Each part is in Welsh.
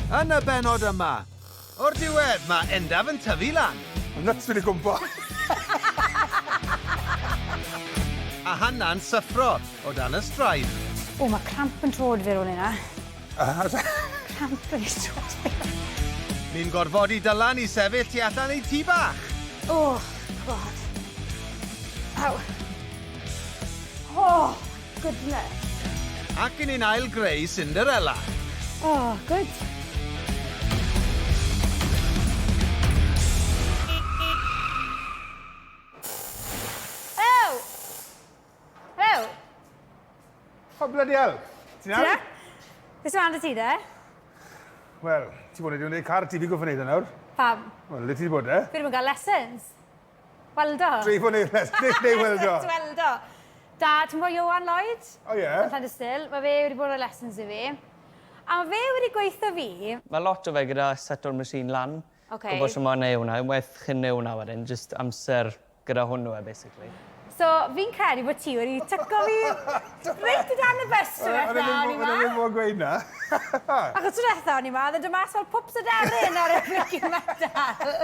Yn y bennod yma, o'r diwedd, mae Endaf yn tyfu lan! Mae nyts fi 'di gwmpo! A Hanna'n syffro o dan y straen. O, mae cramp yn trod fi ar ôl hynna. Cramp wedi trod fi. Ni'n gorfodi Dylan i sefyll tu allan ei tŷ bach! O, God. Aw. O! Goodness. Ac i ni'n ail greu Cinderella. Oh, good. O, bloody hell. Ti'n iawn? Ti'n Beth sy'n dy ti, de? Wel, ti bod wedi gwneud car ti, fi gwybod gwneud e nawr. Pam? Wel, le ti wedi bod, e? Fi ddim yn cael lessons. Weldo. Dwi fod neud rhes- neu neu weldo. Weldo. Da, ti'n gwbo Ioan Lloyd? O ie. Yn Llandysul. Ma' fe wedi bod roi lessons i fi. A ma' fe wedi gweutho fi... Ma' lot o fe gyda seto'r machine lan. Oce. Gwbo shwt ma' neu' wnna. Unwaith chi'n neu' wnna wedyn jyst amser gyda hwnnw e basically. So fi'n credu bo' ti wedi tyco fi reit o dan y bys tro dwetha o'n i 'ma. O'n i ddim o'n i ddim mo'n gweud 'na. Achos tro dwetha o'n i 'ma o'dd e do' mas fel pwps aderyn ar y blinkin metal.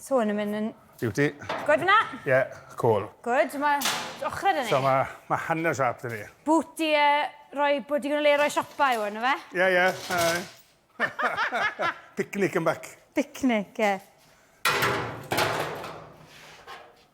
So hwn yn mynd yn... Beauty. Good fyna? Ie, yeah, cool. Good, mae ochrau dyn ni. So mae ma hanner siap dyn ni. Boot i uh, roi, bod digon o le roi siopa i hwn, yna fe? Ie, ie. Picnic yn bac. Picnic, ie. Yeah.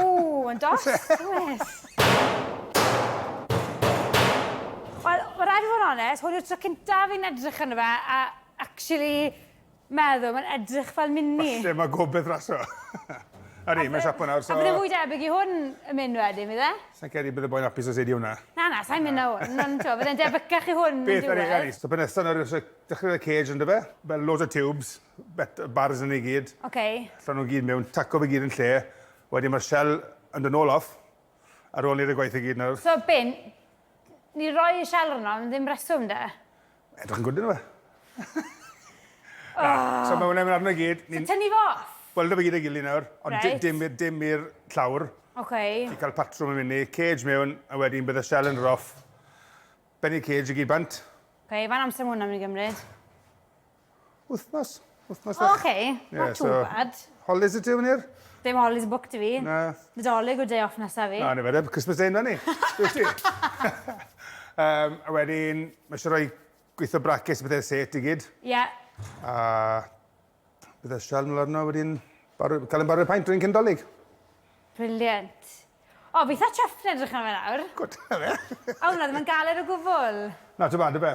Ooh, yn dos, oes. Wel, mae rhaid i fod yn onest, hwn yw'r tro cyntaf fi'n edrych yn fe, a actually meddwl, mae'n edrych fel mini. Falle mae gobeith raso. Ydy, mae'n siapo nawr, so... A bydde fwy debyg i hwn yn mynd wedyn, fydde? Sa'n credu bydde boi'n apus os ei di hwnna. Na, na, sa'n mynd na hwn. Na'n to, fydde'n debycach i hwn yn diwedd. Beth, ydy, ydy. So, penesa nawr, dechrau y cage yn dyfe, fel loads of tubes. Bet y bars yn ei gyd. Ok. Allan nhw'n gyd mewn, taco fe gyd yn lle. Wedyn mae'r shell yn dod nôl off. Ar ôl ni'r y gwaith i gyd nawr. So bin, ni roi y shell rhwng am ddim reswm de? Edrych yn gwyd yn fe. Na, so mae hwnna'n mynd arno i gyd. So tynnu fo off? Wel, dyma gyd ei gili nawr, ond dim i'r dim i'r llawr. Ok. Ti'n cael patrwm yn mynd i, cage mewn, a wedyn bydd y shell yn roff. Benny cage i gyd bant. Ok, fan amser mae hwnna'n mynd i gymryd? Wythnos. Wythnos fach. O, oce. Ie, so... Not too bad. Holidays 'da ti efo ni'r? Dim holidays booked 'da fi. Na. Nadolig yw'r day off nesa fi. Na, ni fe de. Christmas Day 'na ni. Wyt ti? Yym, a wedyn, ma' isie roi gwitho braces a pethe set i gyd. Ie. A bydd y sial mlan 'na wedyn baru- cael ein baru paent rhywun cyn 'Dolig. Brilliant. O, fi itha chuffed yn edrych arno fe nawr. Good, 'na fe. O, na, ddim yn galed o gwbwl. Not too bad, ife?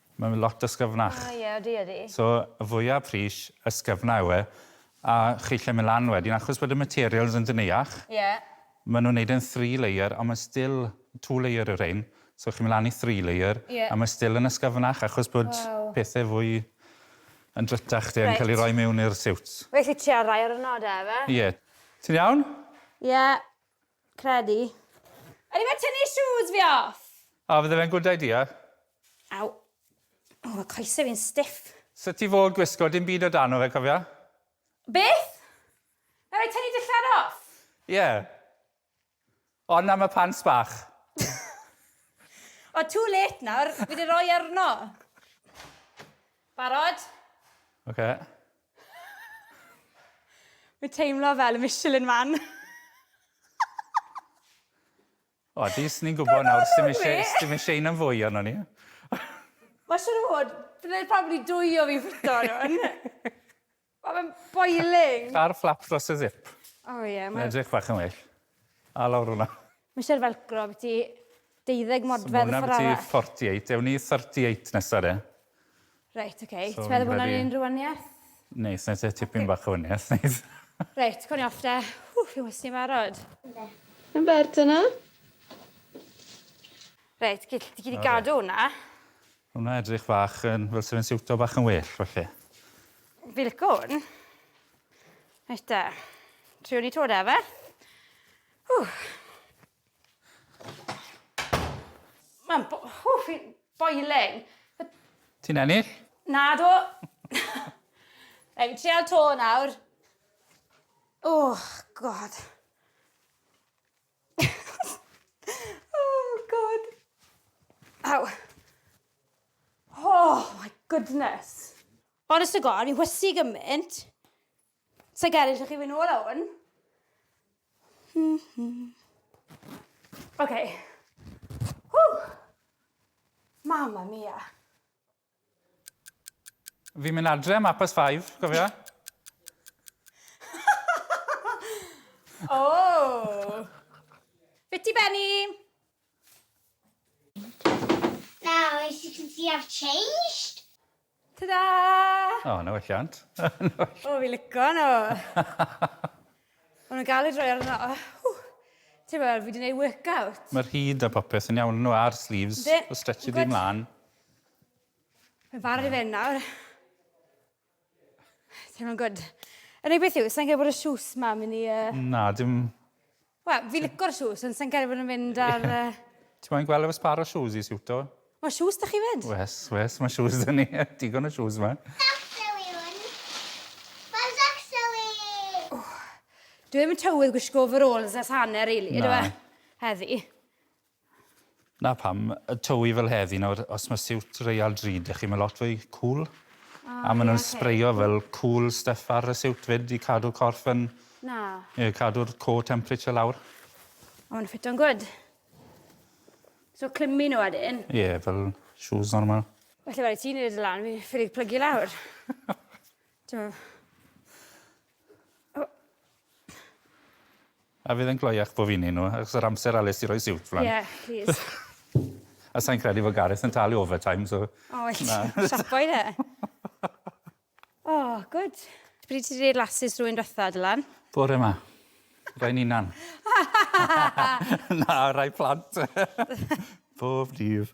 Mae fe lot ysgyfnach. O ie, odi, odi. So, y fwya pris, ysgyfna yw e. A chi isie myn' lan wedyn, achos bod y materials yn dyneuach. Ie. Ma' nw'n neud e'n three layer, ond ma' still two layer yw rhein. So chi'n myn' lan i three layer. Ie. A ma' still yn ysgyfnach, achos bod... Waw. ...pethe fwy yn drytach 'de. Reit. ...yn ca'l 'u roi miwn i'r siwts. Wnai allu trial rhai o'r 'na 'da, efe? Ie. Ti'n iawn? Ie. Credu. O'n i fel tynnu shoes fi off! A fydde fe'n good idea? Aw. O ma coese fi'n stiff. Sut ti fod gwisgo dim byd o dano fe cofia? Beth? Na rai tynnu dillad off? Ie. Ond am y pants bach. O too late nawr, fi di roi arno. Barod? Oce. Mae'n teimlo fel y Michelin Man. O, at least ni'n gwybod nawr, sdim eisiau, sdim eisiau un am fwy arno ni. Mae siwr o fod, byddai'n probably dwy o fi ffwrto hwn. Mae'n boiling. Ar fflap dros y zip. O ie. Mae'n edrych bach yn well. A lawr hwnna. Mae eisiau'r felcro ambiti 20 modfedd ffordd arall. So mae hwnna ambiti 48. Ewn ni 38 nesa de. Reit, ok. So Ti'n meddwl bod hwnna'n unrhyw waniaeth? Neis, wna i te tipyn bach o waniaeth, neis. Reit, cawn ni off de. Ww, fi'n wysni barod. Yndw. Yn bert dyna. Reit, gyd, ti gyd i gadw hwnna. Hwnna edrych fach yn, fel se fe'n siwto bach yn well, falle. Fi lico hwn. Reit de. Triwn ni to de, fe? Mae'n bo- ww fi'n boiling. Ti'n ennill? Nadw. Rhaid fi trial to nawr. Oh god. oh god. Aw. Oh my goodness. Honest to God, fi'n hwysi gymaint. Sa i gael eisiau chi fyn' nôl a wn. Hmm hmm. Oce. Ww! Mamma mia. Fi'n mynd adre am apus five, cofia? Oh! Be ti Benny? Now, is it since you have changed? Tada! O, na welliant. o, fi lico nhw. O'n nhw'n galed roi ar yna. Oh, Ti'n meddwl, fi wedi gwneud workout. Mae'r hyd a popeth yn iawn nhw a'r sleeves. Fe, o stretchy di mlaen. Mae'n fawr i fe nawr. Ti'n meddwl, good. Yn ei beth yw, sa'n gael bod y siws ma mynd i... Uh... Na, dim... Wel, fi licor shoes, ond sy'n cael bod yn fynd ar... Uh... Ti moyn gweld efo sbar o shoes i siwto? Mae shoes da chi fyd? Wes, wes, mae shoes da ni. Digon o shoes yma. Dwi ddim yn tywydd gwisgo overalls as hanner, really, ydw e? Heddi. 'Na pam, y tywi fel heddi nawr os ma' siwt Real Drud 'da chi ma' lot fwy cŵl. A ma' nw'n sbreio fel cŵl styff ar y siwt 'fyd i cadw'r corff yn... Na. ...ie cadw'r core temperature lawr. A ma' nw'n ffito'n gwd. So clymu n'w wedyn? Ie fel shoes normal. Well i ti neud e lan fi ffili plygu lawr. T'mo'? A fydd e'n gloiach bo fi'n neud nhw achos yr amser Alys i roi siwt flan. Ie plîs. A sai'n credu fo Gareth yn talu overtime so... O wyt. Na. Siapo i fe. O gwd. Pryd ti 'di neud lasys rywun dwetha Dylan? Bore 'ma. Rai 'n unan. Na rai plant. Bob dydd.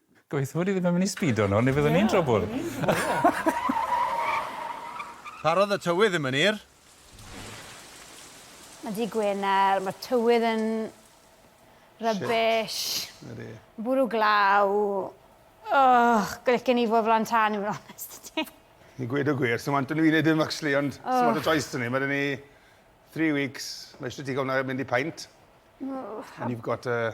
Gobeithio bod hi ddim yn mynd i sbido nawr neu fyddwn ni'n trwbwl. Parodd y tywydd ddim yn hir. Mae dydd Gwener, mae tywydd yn rubbish. Ydy. Bwrw glaw. Ugh, licen i fod flan tân i fod yn onest 'da ti. I gweud y gwir, sdim anton i fi wneud dim actually ond sdim lot o choice 'da ni. Mae 'da ni three weeks, mae isie ti gael hwnna mynd i paent and you've got a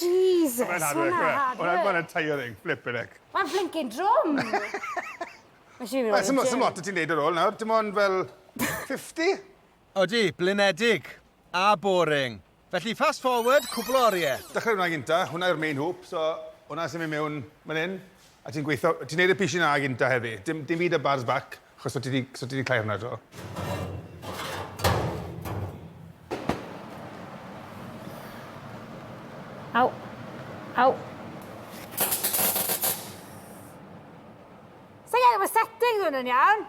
Jesus! Ma'n hard work yw e? Ma'n ma'n tiring, flippin heck. Ma'n flincin drwm! Wel, sim o- sim ots o' ti'n neud ar ôl nawr, dim ond fel fifty? Odi, blinedig. A boring. Felly, fast forward cwpwl o orie. Dechre 'wnna gynta, hwnna yw'r main hoop, so hwnna sy'n myn' mewn myn 'yn. A ti'n gweitho, ti'n neud y pishyn na gynta heddi. Dim, dim byd y bars bac, achos so ti di, so ti di cloi hwnna do. Au. Au. Sa'n gael efo settings hwn yn iawn?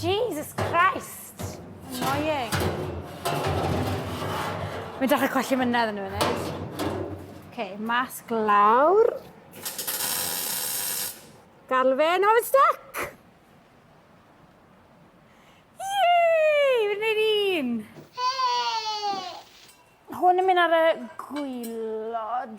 Jesus Christ! Annoying. Mae'n dechrau colli mynedd yn y funud. OK, masg lawr. Gadl fe, no, it's stuck! Yay! Fi'n gwneud un! Hwn yn mynd ar y gwylod.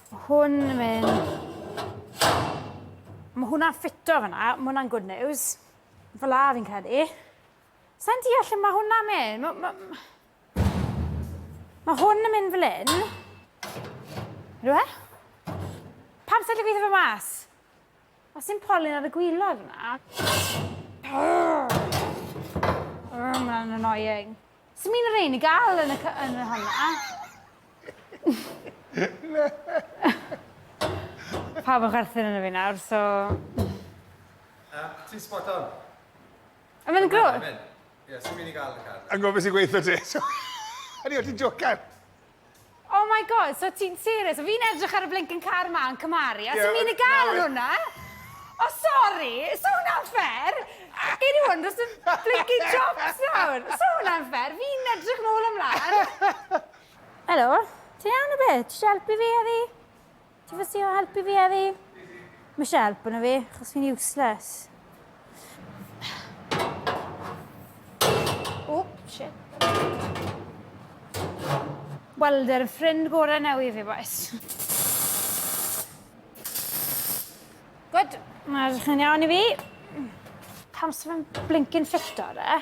Mae hwn yn mynd... Mae hwnna'n ffito fyna, mae hwnna'n good news. Fel a fi'n credu. Sa'n deall lle mae hwnna'n mynd. Mae, ma... mae hwn yn mynd fel un. Rwy'n? Pam sa'ch chi'n gweithio fe mas? Os sy'n polyn ar y gwylod yna. Oh, mae'n annoying. Swn i'n yr ein i gael yn y, yn y honna. Pawb yn chwerthin yn y fi nawr, so... Uh, ti'n spot on. A mae'n grwt? Ie, sy'n mynd i gael y car. Yn gofio sy'n gweithio ti. Ydy, o ti'n jocan. Oh my god, so ti'n serious? Fi'n edrych ar y blinking car ma yn cymaru, a yeah, sy'n mynd i gael yn hwnna? O, oh, sori, so hwnna'n ffer. Gei ni hwn dros y blinking jobs nawr. So hwnna'n ffer, fi'n edrych nôl ymlaen. Helo, ti'n iawn o beth? Ti'n helpu fi heddi? Ti fes ti o helpu fi eddi? Mae eisiau help yna fi, chos fi'n useless. O, shit. Wel, dy'r ffrind gorau neu i fi, boes. Gwyd, mae'n edrych yn iawn i fi. Pam sy'n fe'n blinkin ffito, re?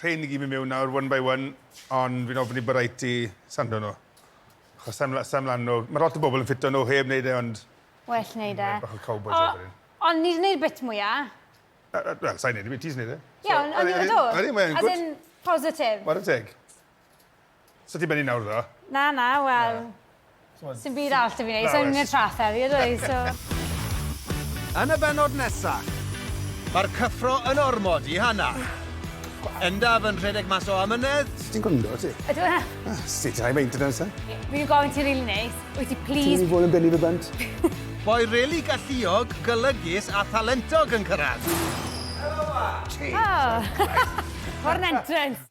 Rhein ni gyd mynd mewn nawr one by one ond fi'n ofyn i Baraiti sando nhw. Achos sai'n mla- sai'n mlan o... Mae lot o bobl yn ffito nhw, heb wneud e ond... Well wneud e. ...bach o cowboi job wedyn. O, ond ni 'di wneud bit mwya. Wel, sai'n wneud e, ti sy'n wneud e. Ie, ond o'n i... Odi, odi, mae e'n gwd. As in, positif. Ware teg. Sa ti'n benni nawr ddo? Na, na, wel... Na. Sdim byd arall 'da fi neud, sai'n mynd i'r traeth heddi ydw i, so... Yn y bennod nesa, mae'r cyffro yn ormod i Hana. Endaf yn rhedeg mas o amynedd. Sut ti'n gwndo ti? Ydw yn iawn. Sut ti'n high maintenance e? Fi wedi gofyn ti rili neis, wyt ti plîs... Ti'n mynd i fod yn benni fy bant? Boi rili galluog, golygus a thalentog yn cyrraedd. Helo 'ma! Jesus Christ. What an entrance!